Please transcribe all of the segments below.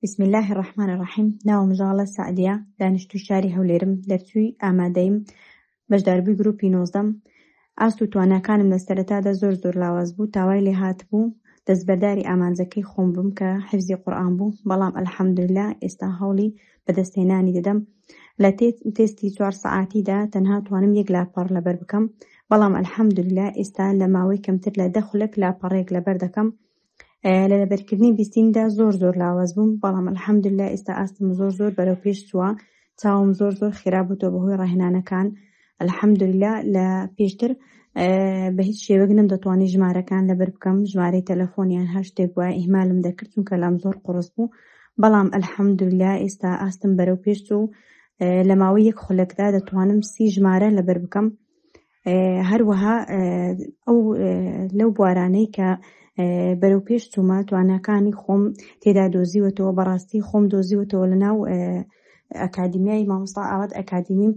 بسم اللە الرحمن الرحیم ناوم ژاڵە سەعدیە دانیشتوی شاری هەولێرم دەرچووی ئامادەیم بەشداربووی گروپی نۆزدەم ئاست و تواناکانم لە سەرەتادا زۆر زۆر لاواز بوو تاوای لێ هاتبوو دەستبەرداری ئامانجەکەی خۆم بم کە حفزی قورآن بوو بەڵام ئەلحەمدللا ئێستا هەوڵی بەدەستهێنانی دەدەم لە تێستی چوار سەعاتیدا تەنها توانم یەک لاپەڕ لەبەر بکەم بەڵام ئەلحەمدللا ئێستا لە ماوەی کەمتر لە دە خولەک لاپەڕێک لەبەر دەکەم لە لەبەرکردنی بیستیندا زۆر زۆر لاواز بووم بەڵام الحەمدللا ئێستا ئاستم زۆر زۆر بەرەو پێش چووە چاوم زۆر زۆر خێرا بووتەوە بەهۆی ڕاهێنانەکان الحەمدللا لە پێشتر بە هیچ شێوەک نم دەتوانانی ژمارەکان لەبەر بکەم ژمارەی تەلەفۆنیان هەر شتێک وایە ئیهمالم دەکرد چونکە لام زۆر قڕست بوو بەڵام الحەمدللا ئێستا ئاستم بەرەو پێش چوو لە ماوەی یەک خولەکدا دەتوانم سی ژمارە لەبەر بکەم هەروەها ئەو لەو بوارانەی کە بەرەو پێش چوومە تواناکانی خۆم تێدا دۆزیوەتەوە بەڕاستی خۆم دۆزیوەتەوە لە ناو ئەکادیمیای مامۆستا ئاوات ئەکادیمی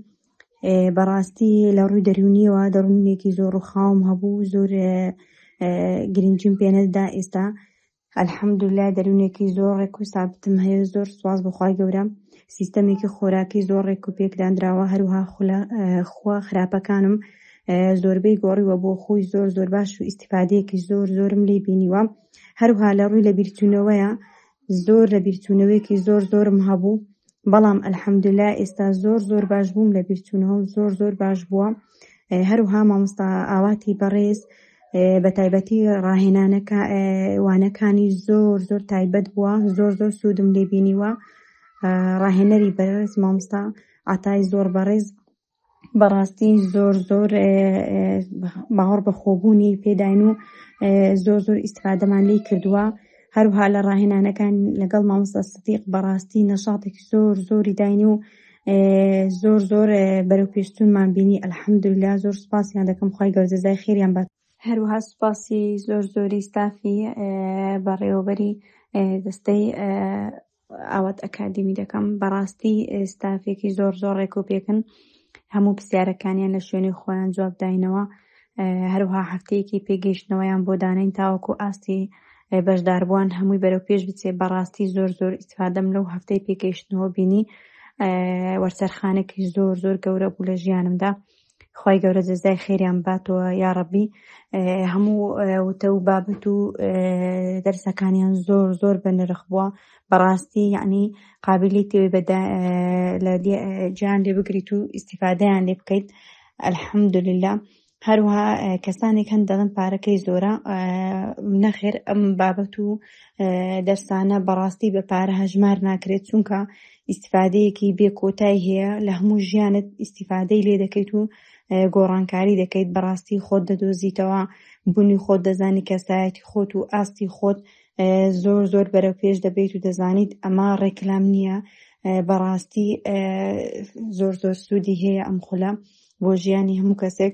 بەڕاستی لە ڕووی دەروونیەوە دەڕوونێکی زۆر ڕووخاوم هەبوو زۆر گرنگجیم پێنەدا ئێستا الحمدللە دەروونێکی زۆر ڕێک و سابتم هەیە زۆر سواز بەخوای گەورە سیستەمێکی خۆراکی زۆر ڕێک و پێکدانراوە هەروها خوا خراپەکانم زۆربەی گۆڕیوە بۆ خۆی زۆر زۆر باش و ئیسیفادەیەکی زۆر زۆرم لی بینیوە هەروها لە ڕووی لە بیرتونەوەیە زۆر لە بیرتونەوەیەکی زۆر زۆرم هەبوو بەڵام ئەلحەمدللا ئێستا زۆر زۆر باش بووم لە بیرتونەوەم زۆر زۆر باش بووە هەروها مامۆستا ئاواتی بەڕێز بە تایبەتی ڕاهێنانەکە وانەکانی زۆر زۆر تایبەت بووە زۆر زۆر سوودم لێ بینیوە ڕاهێنەری بەرز مامۆستا عتای زۆر بەڕێز بەڕاستی زۆر زۆر باوەڕ بە خۆبوونی پێداین و زۆر زۆر ئیسفادەمان لی کردووە هەروها لە ڕاهێنانەکان لەگەڵ مامۆستا سدیق بەڕاستی نەشاتێکی زۆر زۆری داینی و زۆر زۆر بەرەو پێشتونمان بینی ئەلحەمدوللا زۆر سپاسیان دەکەم خی گەورجەزای خێریان بات هەروەها سپاسی زۆر زۆری ستافی بەڕێوەبەری دەستەی ئاوات ئەکادمی دەکەم بەڕاستی ستافێکی زۆر زۆر ڕێک و پێکن هەموو پرسیارەکانیان لە شوێنی خۆیان جوابداینەوە هەروەها هەفتەیەکی پێ گەیشتنەوەیان بۆ دانێن تاوەکو ئاستی بەشداربووان هەمووی بەرەو پێش بچێ بەڕاستی زۆر زۆر ئیسفادەم لەو هەفتەی پێگەیشتنەوە بینی وەرچەرخانێکی زۆر زۆر گەورە بوو لە ژیانمدا خی گەورە جەزای خێریان باتەوە یاڕبی هەموو وتە و بابەت و دەرسەکانیان زۆر زۆر بە نرخ بووە بەڕاستی یعنی قابلی تێوی بەدا لە جیان لێ بگریت و ئیسیفادیان لێ بکەیت الحمدللە هەروها کەسانێک هەن دەڵن پارەکەی زۆرە نەخێر ئەم بابەت و دەرسانە بەڕاستی بە پارە هەژمار ناکرێت چونکە ئیسفادەیەکی بێ کۆتای هەیە لە هەموو ژیانت ئیسیفادەی لێ دەکەیت و گۆڕانکاری دەکەیت بەڕاستی خۆت دەدۆزیتەوە بوونی خۆت دەزانی کەسایەتی خۆت و ئاستی خۆت دەزانی زۆر زۆر بەرەو پێش دەبیت و دەزانیت ئەمە ڕێکلام نییە بەڕاستی زۆر زۆر سوودی هەیە ئەم خولە بۆ ژیانی هەموو کەسێک